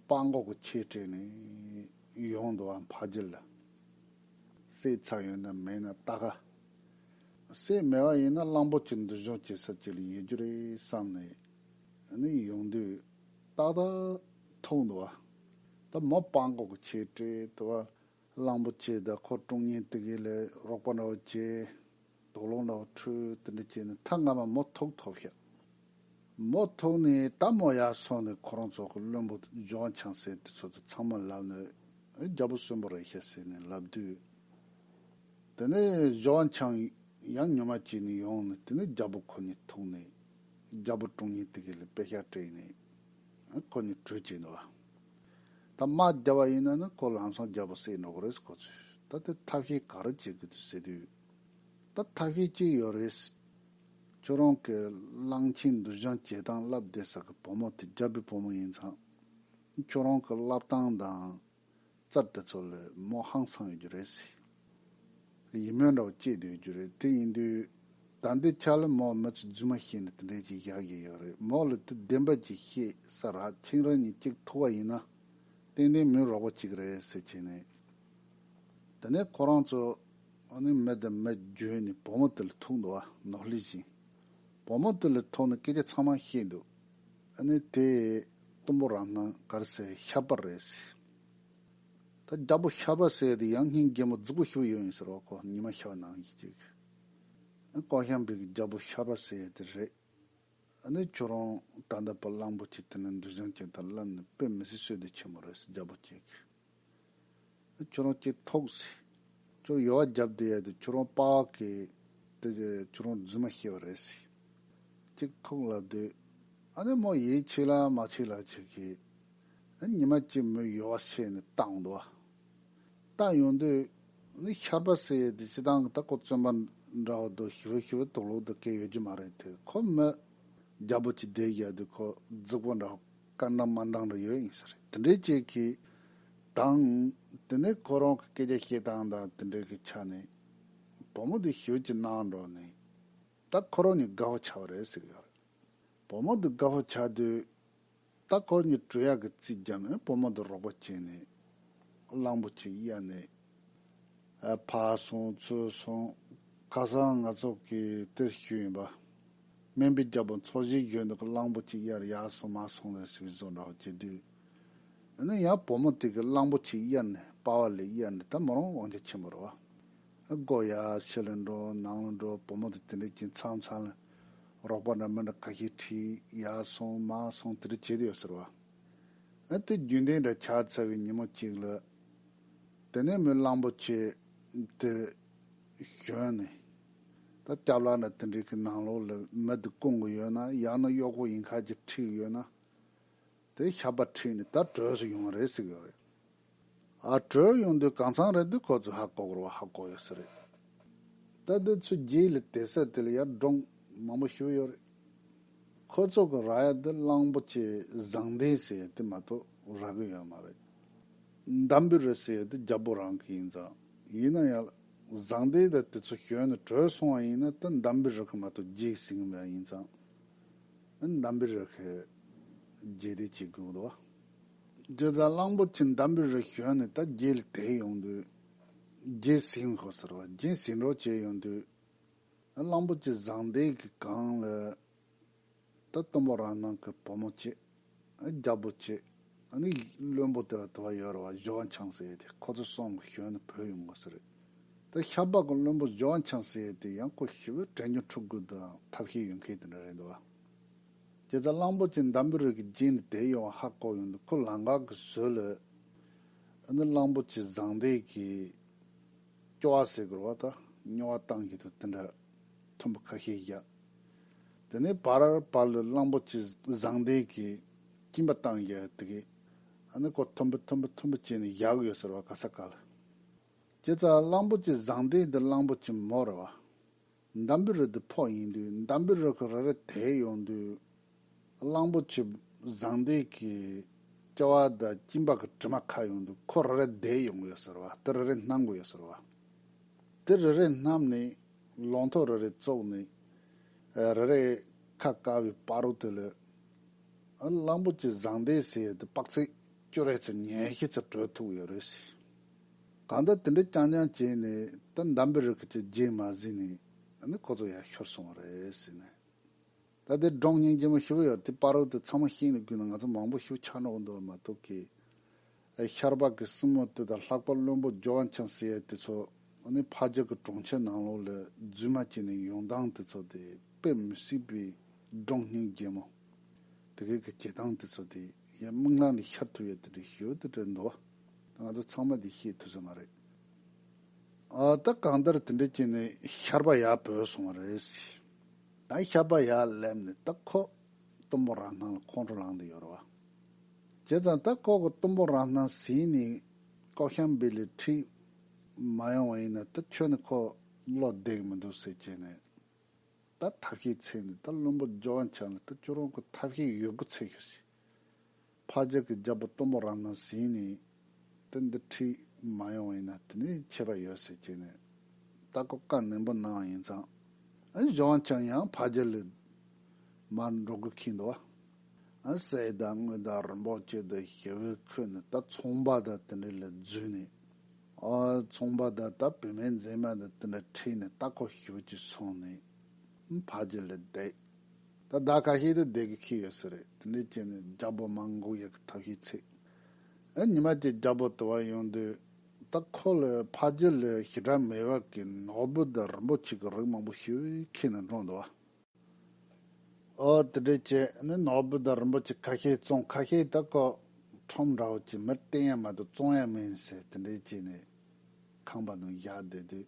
སྤང་སྒོག་གི་ཆེ་སྤྲེལ་ནས་ཡོང་འདུག་བ་འཕགས་རྒྱུ་ལ་སྲས་ཚ་ཡོད་ན་མེད་ན་ལྟ་ག། སྲས་མེད་བ་ཡིན་ན་གླང་པོ་ཆེ་འདུལ་སྦྱོང་བྱེད་ས་ཅིག་ལ་ཡོད་རྒྱུ་རེད་བསམ་ནས་ཡོང་དུས། རྟག་ཏུ་འཐུང་དུ་བ། དེ་མི་སྤང་གོ་གི་ཆོས་དྲི་དུ་བ། གླང་པོ་ཆེའི་ཟླ་འཁོར་ཀྲོང་ངེ་དུག་ཡིད་ལས་རོག་པ་འདྲ་བོ་བྱེད། དོག་ལོང་འདྲ་བོ་འཁྲུལ་དེ་འདྲ་བྱས་ནས་མཐའ་སྔ་མ་མོ་ཐུག་ཐོབ་ཤག། མོ་ཐུག་ནས་ད་མོ་ཡར་སོང་ནས་ཁོ་རང་ཚོ་གི་བློན་པོ་ལྗོངས་བྱང་སེ་དེ་ཚོ་དང་ཚང་མ་ལབ་ནས་རྒྱལ་པོ་གསོན་པོ་རེད་ཤག་ཟེར་ནས་ལབ་དུས། དེ་ནས་ལྗོངས་བྱང་ཡང་ཉོ་མ་བྱས་ནས་ཡོང་ནས་དེ་ནས་རྒྱལ་པོ་ཁོ་གཉིས་ཐུག་ནས། རྒྱལ་པོ་དྲུང་ཉིད་དེ་གའི་ལས་དཔེ་ཤར་བཀྲས་ཡིན་ནི། ཁོ་ནི་གྲོས་བྱེད་འདུག་བ། ད་དམག་རྒྱག་བ་ཡིན་ན་ནི་ཁོ་ལམ་སང་རྒྱལ་པོ་བསད་འགྲོ་གི་རེད་ཁོ་ཚོས་ད་དེ་ཐབས་ཤེས་ག་རེ་བྱེད་དགོས་དུས་ཟེར་དུས། ད་ཐབས་ཤེས་གཅིག་ཡོད་རེད། ཁྱོད་རང་གི་གླང་ཆེན་འདུ་ཞང་བྱེད་སྟངས་བསླབ་བསྡད་ཟེར་གི་བུ་མོ་དེ་རྒྱལ་པོའི་བུ་མོ་ཡིན་ཚང། ཁྱོད་རང་གི་བསླབ་སྟངས་དང། རྩར་དེ་ཚོ་ལོས་མོ་ཧང་སང་ཡོད་རྒྱུ་རེད། ཡིད་སྨོན་འདྲ་བོ་སྐྱེས་འདུག་ཡོད་རྒྱུ་རེད་དེ་ཡིན་དུས། ད་འདི་ཆ་ལ་མོ་མི་ཚོ་རྫུན་མ་བཤད་ནས་དེ་འདྲས་ཅིག་བཞག་བཞིན་ཡོད་རེད་མོ་ལ་དེ་བདེན་པ་ཅིག་བཤད་ས་ར་ཆིང་རང་ཉིད་གཅིག་ཐུག་བ་ཡིན་ན། ཏན་ཏན་མི་རོགས་པ་ཅིག་རེད་ཟེར་བྱས་ནས། དེ་ནས་ཁོ་རང་ཚོ་ནི་མི་དང་མི་བརྗོད་ནས་བུ་མོ་དེ་ལ་ཐུག་འདུག་བ་ནོར་ལི་བཞིན། བུ་མོ་དེ་ལ་ཐུག་ནས་སྐད་ཆ་ཚང་མ་བཤད་འདུག། ཨ་ནི་དེ་གཏུམ་པོ་རང་སྣང་དཀར་སེར་ཤ་པར་རེད་ཟེར། ད་རྒྱ་པོ་ཤ་པ་ཟེར་དེ་ཡང་སྙིང་རྒྱལ་མོ་རྫུ་གུ་ཞིག་པོ་ཡོད་ཡིན་ཟེར་བ་ཁོ་ཉི་མ་ཤ་པ་ནང་གི་ཅིག་གི། ཨ་ཀོག་ཤམ་པའི་གི་རྒྱ་པོ་ཤ་པ་ཟེར་དེ་རེད། ཨ་ནི་ཁྱོད་རང་ད་ལྟ་བ་གླང་པོ་ཆེ་དེ་ནས་འདུལ་བྱང་ཅན་དང་བསླབ་ནས་དཔེ་མི་སྲིད་བསོད་བདེ་ཆེན་མོ་རེད་ཟེར་རྒྱ་པོ་ཅིག་གི། ཁྱོད་རང་སྐྱེས་ཐོག་ཟེར། ཁྱོད་རང་ཡོལ་བ་བརྒྱབ་དེ་ཡལ་དུས་ཁྱོད་རང་དཔའ་གི། དེ་རྗེས་ཁྱོད་རང་རྫུན་མ་ཤེས་པ་རེད་ཟེར། སྐྱེས་ཐོག་ལབ་དུས། ཨ་ནེ་མོ་ཡིད་ཆེས་ལ་མ་ཆེས་ལ་ཆེས་གི། ཨེ་ཉི་མ་སྐྱེས་མོས་ཡོལ་བ་ཤེས་ནས་བཏང་འདུག་ཨ། བཏང་ཡོང་དུས། ནི་ཤར་པ་ཟེར་ཡས་དེ་སྤྱི་སྟངས་ཀྱི་ད་ཀོ་བཙོན་པ་འདྲ་བོ་འདུག་ཞི་བོ་ཞི་བོ་དུག་ལོག་དུ་བཀལ་ཡོད་རྒྱུ་མ་རེད་དེ་ཁོ་མོས་རྒྱ་པོ་གཅིག་བསྡད་བཞག་དུས་ཁོ་རྫིག་པོ་འདྲ་བོ་བཀའ་འདང་མ་འདང་རེ་ཡོད་ཡིན་ས་རེད་དེ་འདྲའི་ཅིག་གི། དང། དེ་ནས་ཁོ་རང་གི་སྐད་ཆ་བཤད་སྟངས་དང་དེ་འདྲའི་གི་ཆ་ནས། བུ་མོ་དེ་ཞོལ་གྱི་ནང་འགྲོ་ནས། ད་ཁོ་རང་གཉིས་དགའ་བོ་བྱ་བ་རེད་ཟེར་གི་ཡོད་རེད། བུ་མོ་དེ་དགའ་བོ་བྱ་དུས། ད་ཁོ་གཉིས་གྲོས་ཡག་གི་རྩིས་བརྒྱབ་ནས་བུ་མོ་དེ་རོགས་པ་བྱས་ནས། གླང་པོ་ཆེའི་གཡས་ནས། ཕར་སོང་ཚུར་སོང་ཁ་སང་ང་ཚོ་གི་དེར་བཞུགས་ཡིན་པ། སྨན་པའི་རྒྱལ་པོ་འཚོ་བཞེས་གཞོན་ནུ་གི་གླང་པོ་གཅིག་དབྱར་ཡར་སོང་མར་སོང་ལེར་ཟིག་བཟོ་འདྲ་བ་བྱེད་དུས། ཡང་ན་ཡང་བུ་མོ་དེ་གི་གླང་པོ་གཅིག་དབྱར་ནས་དཔའ་བ་ལས་དབྱར་ནས་ད་མི་རུང་དབང་ཆ་ཆེན་པོ་རེད་བ། སྒོ་ཡར་ཕྱི་ལ་འགྲོ་ནང་ལ་འགྲོ་བུ་མོ་དེ་དེ་འདྲའི་གྱིན་ཚང་ཚང་ལ། རོགས་པ་འདྲ་མི་འདྲ་ཁ་ཤས་ཁྲིད་ཡར་སོང་མར་སོང་དེ་འདྲ་བྱེད་དུ་ཡོད་ཟེར་བ། དེ་རྒྱུན་ལྡན་འདྲ་ཆགས་ཚར་བའི་ཉིན་མོ་གཅིག་ལ། དེ་ནས་མོས་གླང་པོ་ཆེ་དེ་ཞོན་ནས། ད་སྐྱབས་ལགས་ན་དེ་འདྲའི་གི་ནང་ལོགས་ལ་མི་འདི་སྐུང་གི་ཡོད་ན་ཡང་ན་གཡོག་པོ་ཡིན་ཁར་གྱི་ཁྲིད་ཡོད་ན། དེ་ཞབས་པ་ཁྲིད་ནས་ད་བྲོས་སུ་ཡོང་རེད་ཟིག་ཡོད་རེད། ཨ་བྲོས་ཡོང་དུས་གང་ཚང་རེད་དུས་ཁོ་ཚོས་ཧ་གོ་གོར་བ་ཧ་གོ་ཡོད་ཟེར་རེད། ད་དེ་ཚོའི་རྗེས་ལ་དེ་སད་དེ་ལ་ཡར་འབྲོང་མང་པོ་ཞུ་ཡོད་རེད། ཁོ་ཚོ་གི་ར་ཡ་འདི་གླང་པོ་ཆེའི་བཟང་ལྡན་ཟེར་ཡ་དེ་མ་གཏོགས་ར་གི་ཡོད་མ་རེད། འདམ་བུའི་རི་ཟེར་ཡ་དེ་རྒྱ་བོད་རང་གི་ཡིན་ཙང་ཡིན་ན་ཡང་བཟང་ལྡན་དེ་དེ་ཚོ་གཞོན་ནས་བྲོས་སོང་བ་ཡིན་ན་དེ་འདམ་བུའི་རི་གི་མ་གཏོགས་རྒྱའི་སྲིང་མོ་ཡང་ཡིན་ཙང་འདམ་བུའི་རི་གི་རྒྱའི་སྡེ་བྱེད་དགོས་གི་འདུག་བ། དེ་ཙང་གླང་པོ་ཆེ་འདམ་བུའི་རི་གཞོན་ནས་ད་རྒྱའི་ལ་དེད་ཡོང་དུས་རྒྱའི་སྲིང་མོ་ཟེར་བ་རྒྱའི་སྲིང་གྲོགས་བྱས་ཡོང་དུས། གླང་པོ་ཆེ་བཟང་ལྡན་གྱི་གངས་ལས། ད་སྟོན་པོ་རང་སྣང་གི་བུ་མོ་ཆེ། རྒྱལ་པོ་ཆེ། ནི་ཡིག་བློན་པོ་དེ་བ་དེ་བ་ཡོད་རེད་བ་གཞི་བ་འཆང་ཟེར་ཡོད་དེ་ཁོ་ཚོ་སོང་གི་ཞོན་ནི་བོད་ཡོང་དགོས་ཟེར་རེད། ད་ཤ་པགས་གི་བློན་པོ་གཞི་བ་འཆང་ཟེར་ཡོད་དེ་ཡང་ཁོ་ཞི་བའི་དྲན་རྒྱུན་འཁྲུག་དགོས་དུའང་ཐབས་ཤེས་ཡོད་མཁན་དེ་འདྲ་རེད་འདུག་བ། རྒྱལ་ཚ་གླང་པོ་ཆེ་འདམ་བུའི་རིགས་ཀྱི་རྗེས་ནི་དེ་ཡོང་བ་ཧ་གོ་ཡོང་དུ་ཁོ་ལང་ཀག་གི་ཟོས་ལོས། ནི་གླང་པོ་ཆེ་བཟང་ལྡན་གྱིས། སྐྱོ་བ་ཟས་གོར་བ་དང་སྨྱོ་བ་བཏང་གི་འདུག་དེ་འདྲ་ཐོན་པ་ཁ་ཤས་བཞག་དེ་ནས་བར་བར་ལ་གླང་པོ་ཆེ་བཟང་ལྡན་གྱི་སྐྱིན་པ་བཏང་བཞག་དེ་གས་ཨ་ནི་ཀོ་ཐོན་པོ་ཐོན་པོ་ཐོན་པོ་བྱས་ནས་བཞག་གི་ཡོད་ཟེར་བ་ག་ས་ག་ལ། ཁྱེད་ཚ་གླང་པོ་ཆེ་བཟང་ལྡན་འདི་གླང་པོ་ཆེ་མོ་རེད་བ། འདམ་བུ་རི་དེ་ཕོག་ཡིན་དུས་འདམ་བུའི་རི་ཁུག་རེ་རེ་དེད་ཡོང་དུས། གླང་པོ་ཆེ་བཟང་འདས་ཀྱི་སྐྱ་བ་དང་སྐྱིན་པགས་ཀྱི་དྲི་མ་ཁ་ཡོང་དུས་ཁོ་རེ་རེ་དེད་ཡོང་གི་ཡོད་ཟེར་བ་དེ་རེ་རེ་སྣང་གི་ཡོད་ཟེར་བ། དེ་རེ་རེ་བསྣམས་ནས་ལོང་ཐོག་རེ་རེ་བཙོག་ནས་རེ་རེ་ཁ་བཀག་བའི་དཔའ་རོ་དེ་ལོས། གླང་པོ་ཆེ་བཟང་འདས་ཟེར་ཡས་དེ་དཔག་ཚད་ཅུ་རེ་ཚོ་ཉེར་བཞི་ཚོ་བགྲོད་ཐུབ་ཀྱི་ཡོད་རེད། གང་ལྟར་དེ་འདྲ་རྐྱང་རྐྱང་བྱས་ནས་ད་འདམ་པའི་རི་ཁུལ་གྱི་རྗེས་མ་ཟིན་ནས་ནི་ཁོ་ཚོ་ཡར་ཤོར་སོང་བ་རེད་ཟེར་ནས། ད་དེ་འབྲོང་རྙིང་རྗེ་མོ་ཞི་བ་ཡོད་དེ་དཔའ་རོལ་དེ་ཚང་མ་བཤིག་ནས་བསྐུས་ན་ང་ཚོ་མང་པོ་ཤི་བོ་ཆགས་ནོག་འདུག་བ་མ་གཏོགས་ཀི། ཨེ་ཤར་པ་ཀི་སྲིན་མོ་དེ་དང་ལྷག་པ་བློན་པོ་ཇོ་ཝན་ཆང་སི་ཨེ་དེ་ཚོ་ནི་ཕ་རྒྱལ་གྱི་གྲོང་ཁྱེར་ནང་ལོགས་ལས་རྫུན་མ་བྱས་ནས་ཡོང་སྟངས་དེ་ཚོ་དེ་དཔེ་མི་སྲིད་པའི་འབྲོང་རྙིང་རྗེ་མོ་དེ་གས་ཀྱི་བྱེད་སྟངས་དེ་ཚོ་དེ་ཡ་མིག་ལམ་ལས་ཤར་ཐུབ་ཡོད་དེ་འདྲའི་ཞོལ་དེ་འདྲའི་འདུག་བ། ང་ཚོ་ཚང་མ་དེ་ཤེས་ཐུབ་ས་མ་རེད། ཨ་ད་གང་ལྟར་དེ་འདྲའི་རྐྱེན་ནི་ཤར་པ་ཡག་བོས་སོང་བ་རེད། ད་ཤར་པ་ཡག་སླེབས་ནས་ད་ཁོ་གཏུམ་པོ་རང་སྣང་ལ་ཁོང་ཁྲོ་ལངས་འདུག་ཡོད་རེད་བ། བྱས་ཙང་ད་ཁོ་གི་གཏུམ་པོ་རང་སྣང་ཟིན་ནས་ལྐོག་ཤམ་སྦིར་ལས་འཁྲིད་མ་ཡོང་བ་ཡིན་ན་ད་ཁྱོད་ནི་ཁོ་བློ་བདེ་གི་མི་འདུག་ཟེར་བྱས་ནས་ད་ཐབས་ཤེས་ཚེས་ནས་ད་བླུན་པོ་ཇོ་བ་འཆང་ལ་ད་ཁྱོད་རང་གི་ཐབས་ཤེས་ཡོད་དགུ་ཚེས་ཤོག་ཟེར། ཕ་རྒྱལ་གྱི་རྒྱལ་པོ་གཏུམ་མོ་རང་དང་ཟིན་ནས་དེ་འདི་ཁྲིད་མ་ཡོང་བ་ཡིན་ན་དེ་ནས་ཆད་པ་ཡོད་ཟེར་ཅེས་ནས་ལྟ་སྐོར་བཀའ་ནན་པོ་གནང་བ་ཡིན་ཙང་གཞོན་ཀྱང་ཡང་ཕ་རྒྱལ་ལས་མར་འགྲོ་དགོས་ཁེལ་འདུག་བ། སའི་བདག་དངུལ་དང་རིན་པོ་ཆེ་དང་ཞི་བའི་ཁོས་ནི་ད་ཚོང་པ་དང་དེ་འདྲ་ལ་བརྫུས་ནས། ཚོང་པ་དང་ད་བུད་མེད་མཛེས་མ་དང་དེ་འདྲ་ཁྲིད་ནས་ལྟ་སྐོར་ཞུ་ཅེས་གསུངས་ནས་ཕ་རྒྱལ་ལ་བསྡད། ད་ཟླ་ཁ་ཤས་དུ་བསྡད་དགོས་ཁེལ་ཡོད་ས་རེད་དེ་འདྲའི་རྐྱེན་ནི་རྒྱ་བོད་མང་འགུག་ཡག་གི་ཐབས་ཤེས་ཚིག་ཨ་ཉི་མ་ཀྱི་རྒྱ་བོད་དུ་བ་ཡོང་དུས་ད་ཁོ་ལོས་ཕ་རྒྱུད་ལོས་ཞི་དྲག་མེད་བ་གི་ནོག་བུ་དང་རིན་པོ་ཆེ་གི་རིགས་མང་པོ་ཤི་བའི་ཁེལ་ནས་འགྲོ་འདུག་ཨ་འོ་དེ་འདྲའི་རྐྱེན་ནི་ནོག་བུ་དང་རིན་པོ་ཆེ་ཁ་ཤས་བཙོང་ཁ་ཤས་ད་ཁོ་ཁྲོམ་ར་བ་ཀྱི་མིར་བསྟེན་ཡ་མ་དུ་བཙོང་ཡ་མིན་ཟེར་དེ་འདྲའི་རྐྱེན་ནི་ཁང་པ་ནང་བཞག་བསྡད་དུས་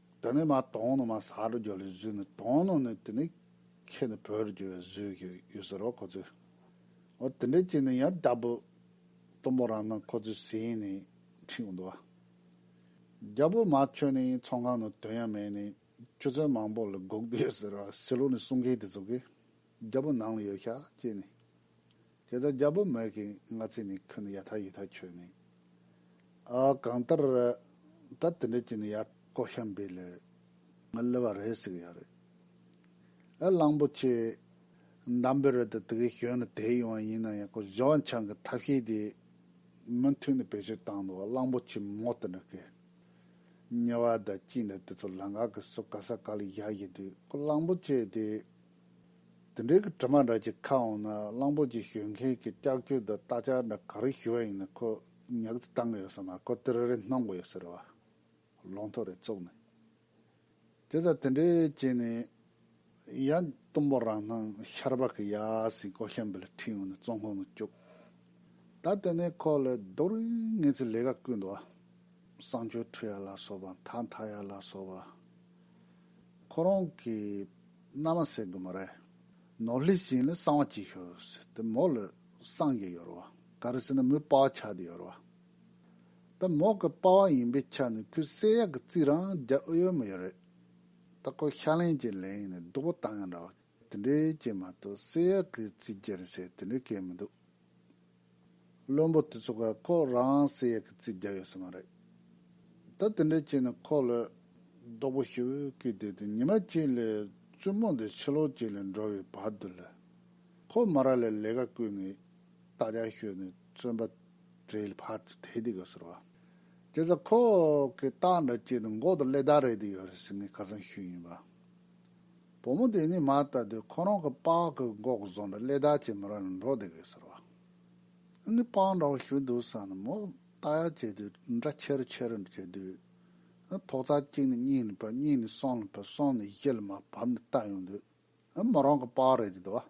དེ་ནས་མ་དོང་ནི་མ་ས་རུ་རྒྱུ་བའི་གཟུགས་ནི་དོང་ནོ་ནི་དེ་ནི་ཁྱེད་ནི་བོད་རུ་རྒྱུ་བའི་གཟུགས་ཤིག་ཡོད་ཟེར་རོ་ཁོ་ཚོས། འོ་དེ་འདྲའི་རྐྱེན་ནི་ཡང་བདག་པོ་གཏུམ་པོ་རང་དང་ཁོ་ཚོའི་སྲས་ཡིན་ནི་འཁྲིག་འོང་དུ། རྒྱལ་པོ་མ་ཁྱོད་ནི་ཚོང་ཁང་ནི་དོན་ཡང་མེད་ནི་ཆུ་ཚོད་མང་པོ་ལ་སྒུག་དུ་ཡོད་ཟེར་རོ་སྲིད་ལུགས་ནི་གསུང་མཁན་དེ་ཚོ་གིས་རྒྱལ་པོ་ནང་ལ་ཡོད་ཤག་ཅེས་ནི། དེ་ལྟར་རྒྱལ་པོ་མོས་ཀྱིས་ང་ཚོས་ནི་ཁྱོད་ནི་ཡ་ཐག་ཡི་ཐག་ཆོད་ནི། ཨ་གང་ལྟར། ད་དེ་འདྲས་ཀྱི་ནི་ཡ་ཀོ་ཤམ་བི་ལོས་ང་བསླུ་བ་རེད་ཟིག་ཡ་རེད། ཨ་གླང་པོ་ཆེ། འདམ་བི་རོས་ད་དེ་གའི་གཞོན་ནུ་དེ་ཡོང་བ་ཡིན་ན་ཡ་ཀོ་ལྗོངས་ཆང་གི་ཐབས་ཤེས་དེ་མུ་མཐུད་ནས་བེད་སྤྱོད་བཏང་འདུག་ཨ་གླང་པོ་ཆེ་མོ་དེ་འདྲ་གི་ཉེ་བ་ད་ཅི་འདྲ་དེ་ཚོ་ལ་འགག་གི་སོ་ག་ས་ག་ལ་ཡག་ཡི་དུས་ཁོ་གླང་པོ་ཆེ་དེ་དེ་འབྲེལ་གྱི་དྲི་མ་འདྲ་གཅིག་ཁ་འོང་ན་གླང་པོ་ཆེ་ཞོན་མཁན་གྱི་སྐྱག་ཆུ་དང་སྟག་ཆ་འདྲ་ག་རེ་ཞུ་བ་ཡིན་ན་ཁོ་ཉག་ཅིག་བཏང་གི་ཡོད་ཟེར་ན་ཁོ་དེ་རེ་རེ་གནང་གི་ཡོད་ཟེར་བ་ལོང་ཐོ་རེད་བཙུགས་ནས་དེ་ཚ་དེ་འདྲས་བྱས་ནས་ཡ་གཏུམ་པོ་རང་སྣང་ཤར་བག་གི་ཡ་སྲིན་ཀོ་ཤམ་བིལ་ཁྲིད་ཡོང་ནས་བཙོང་ཁང་ནང་བཅུག་ད་དེ་ནས་ཁོ་ལས་རྡོ་རིང་ངེ་ཚིག་ལས་ཀ་ཀུན་འདུག་བསང་ཆུ་འཁྲུ་ཡ་ལ་སོགས་པ་མཐའ་མཐའ་ཡ་ལ་སོགས་པ་ཁོ་རང་གི། མནའ་མ་སེ་གི་མོ་རེ། ནོར་ལྷའི་བྱིན་ལས་གསང་བ་སྐྱེས་ཤོས། དེ་མོ་ལ་སངས་རྒྱས་ཡོད་རོ། ག་རེ་ཟེར་ན་མོའི་དཔའ་བ་ཆགས་དེ་ཡོད་རོ། ད་མོ་གི་དཔའ་བ་ཡིན་པའི་ཆ་ནས་ཁོའི་སེ་ཡག་གི་རྩིས་རང་རྒྱ་ཨུ་ཡོན་མོ་ཡོད་རེད། ད་ཁོ་ཤ་ལེན་གྱི་ལེན་ཡིན་ནས་སྡུག་པོ་བཏང་ཡང་འདྲ་བ། དེ་འདྲའི་རྐྱེན་མ་གཏོགས་སེ་ཡག་གི་རྩིས་རྒྱལ་ཞེས་དེ་འདྲའི་སྐད་མི་འདུག། བློན་པོ་དེ་ཚོ་ག་ཁོ་རང་སེ་ཡ་གི་རྩིས་རྒྱག་ཡོད་ས་མ་རེད། ད་དེ་འདྲའི་རྐྱེན་ནི་ཁོ་ལོས་རྡོག་པོ་ཤི་བོའི་སྐུའི་སྟེང་དུ་ཉི་མ་གཅིག་ལས་བཙུན་མོ་འདི་ཕྱི་ལོ་གཅིག་ལས་འགྲོ་བའི་བར་དུ་ལས་ཁོ་མ་ར་ལས་ལས་ཀ་བསྐུལ་ནས་རྟ་རྒྱག་ཤོས་ནས་བཙོན་པ་བྲེལ་བར་དུ་དེད་དེ་གོ་ཟེར་བ། དེ་ཚོ་ཁོ་གི་རྟ་འདྲ་སྐྱེས་ནས་མགོ་དང་ཀླད་རྡ་རེད་དེ་ཡོད་རེད་ཟེར་ནས་ཁ་སང་ཤོད་ཡིན་པ། བུ་མོ་དེ་ནི་མ་ལྟ་དུས་ཁོ་རང་གི་པགས་ཀྱི་མགོ་བཟུང་ནས་སླེ་དར་གྱི་མི་རང་ནས་འགྲོ་བསྡད་དགོས་ཟེར་བ། ཨ་ནི་པགས་འདྲ་བོ་ཞུ་འདུག་བསམ་ནས་མོ་ལྟ་ཡག་བྱས་དུས་འདྲ་ཆེ་རུ་ཆེ་རུ་འགྲོ་བྱས་དུས། ཨ་ཐོག་རྩ་གཅིག་ནས་གཉིས་ནས་བབས་གཉིས་ནས་གསུམ་ལ་བབས་གསུམ་ནས་བཞི་ལ་མ་བབས་ནས་བཏབ་ཡོང་དུས། ཨ་མོ་རང་གི་པགས་རེད་འདོད་བ།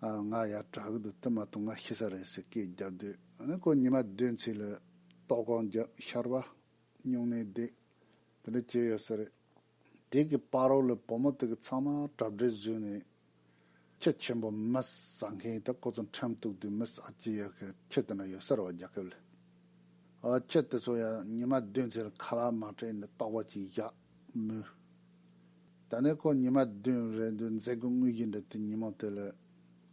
ང་ཡ་བྲག་གི་དུ་དེ་མ་གཏོགས་ང་ཤི་ས་རེད་ཟེར་སྐད་རྒྱབ་སྡོད་ནི་ཁོ་ཉི་མ་བདུན་ཚིག་ལ་ཏོག་གོང་རྒྱབ་ཤར་བ་སྨྱུང་གནས་བསྡད་དེ་འདྲ་བྱས་ཡོད་ས་རེད་དེ་གི་པར་རོགས་ལ་བུ་མོ་དེ་གི་ཚང་མ་གྲབ་སྒྲེ་བཟོས་ནས་ཁྱི་ཆེན་པོ་མི་ཟ་མཁན་དེ་ཁོ་ཚོ་འཁྲེམས་གཏུག་དུས་མི་ཟ་ཅི་ཡོད་ཁི་ཁྱི་དེ་འདྲ་ཡོད་ས་རེད་བ་རྒྱ་ཁབ་ལ་ཨོ་ཁྱི་དེ་ཚོ་ཡ་ཉི་མ་བདུན་ཚིག་ལ་ཁ་ལག་མ་སྤྲད་ནས་ཏོག་པ་ཅིག་བཞག་མོད། ད་ནས་ཁོ་ཉི་མ་བདུན་རེ་འདུག་མཛད་སྒོ་དངོས་རྒྱུ་འདི་དུས་ཉིན་མོ་དེ་ལ་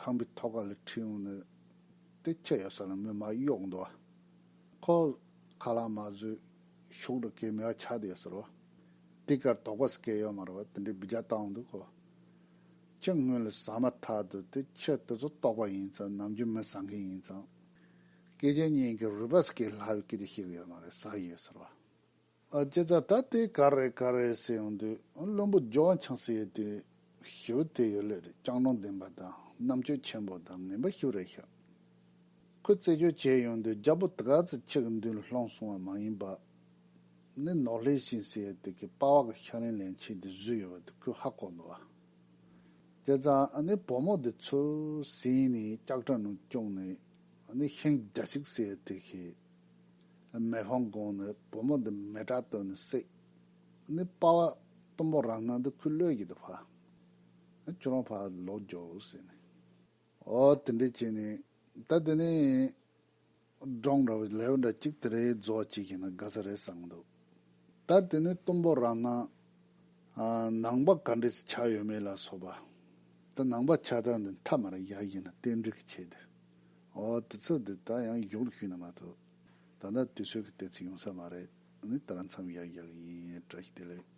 ཁང་པའི་ཐོག་ཁ་ལ་ཁྲིད་འོང་ནས་དེ་ཁྱེར་ཡོང་ས་ལ་མོས་མ་གཡོགས་འདུག་ཨ། ཁོ་ཁ་ལག་མ་བཟོས་ཤོག་དྲུག་གིས་མི་བ་ཆགས་དུ་ཡོད་ཟེར་རོ། དེ་གར་དོགས་པ་ཟེར་མཁན་ཡོད་མ་རེད་བ་དེ་འདྲའི་བི་ཇ་བཏང་འོང་འདུག་གོ། ཁྱེད་སྔོན་ལ་ཟ་མ་ཐག་འདུག་དེ་ཁྱེད་དེ་ཚོ་ལྟོགས་པ་ཡིན་ཙང་ནམ་རྒྱུན་མི་ཟ་མཁན་ཡིན་ཙང། སྐད་ཆ་གཉིས་ཀྱི་རུས་པ་ཟེར་མཁན་ལྷ་བའི་སྐད་ཆ་ཤེས་གི་ཡོད་མ་རེད་ཟ་གི་ཡོད་ཟེར་རོ། ལྕེ་རྩ་ལྟ་སྟེ་ག་རེ་ག་རེ་ཟེར་ཡོང་དུས་བླུན་པོ་ཇོ་བ་འཆང་སྲིད་ཡོད་དུས་ཞུ་དེ་ཡོད་ལོས་རེད་སྐྱང་གནོང་ལྡན་པ་དང་རྣམ་དཔྱོད་ཆེན་པོ་དང་ངན་པ་ཞུ་རེ་ཤག་ཁོས་རྩད་གཅོད་བྱས་ཡོང་དུས་རྒྱ་པོ་དེ་ག་ཚོད་ཁྱེད་ཀྱི་མདུན་ལ་སློང་སོང་བ་མ་ཡིན་པ་ནི་ནོར་ལྷའི་ཞིང་ཟེར་ཡོད་དུས་ཀྱི་དཔའ་བ་གི་ཤག་ལན་ལན་བྱས་དུས་བཟོས་ཡོད་པ་དེ་ཁོས་ཧ་གོ་འདུག་བ། ལྕེ་རྩ་ནི་བུ་མོ་དེ་ཚོས་ཟིན་ནས་སྐྱག་དྲ་ནང་བཅུག་ནས་ཤིང་རྒྱ་ཞིག་ཟེར་ཡོད་དུས་ཤིག། མེ་ལྷོང་དགོངས་ནས་བུ་མོ་འདི་མེ་དྲག་བཏོན་ནས་བསྲེགས། ནི་དཔའ་བ་གཏུམ་པོ་རང་སྣང་འདི་ཁུ་བློས་ཀྱིས་འདི་བྷ། ནི་ཁྱོད་རང་བྷ་ལོག་རྒྱོ་ཟེར་ནས། ཨོ་དེ་འདྲས་བྱས་ནས། ད་དེ་ནས། སྒྲོང་འདྲ་བའི་ལེའུ་འདྲ་གཅིག་དེ་རེའི་རྫོགས་བྱེད་ཀྱིས་ན་དགའ་ས་རེད་བསམ་འདུག། ད་དེ་ནས་གཏུམ་པོ་རང་སྣང། ནང་པ་ག་འདྲས་ཆགས་ཡོད་མེད་ལ་སོགས་པ། ད་ནང་པ་ཆགས་སྟངས་འདི་མཐའ་མར་ཡག་ཡིན་ན་ཏན་ཏིག་གིས་བྱས་དེ། ཨོ་དུས་ཚོད་འདི་ད་ཡང་གཞུག་ལ་ཞུས་ནི་མ་ཐུབ། ད་ལྟ་དུས་ཚོད་ཀྱི་གཏད་ཚིག་ཡོང་ས་མ་རེད། ངས་ད་རང་འཚམས་ཡག་ཡག་ཡིན་ཡིན་བཀྲ་ཤིས་བདེ་ལེགས།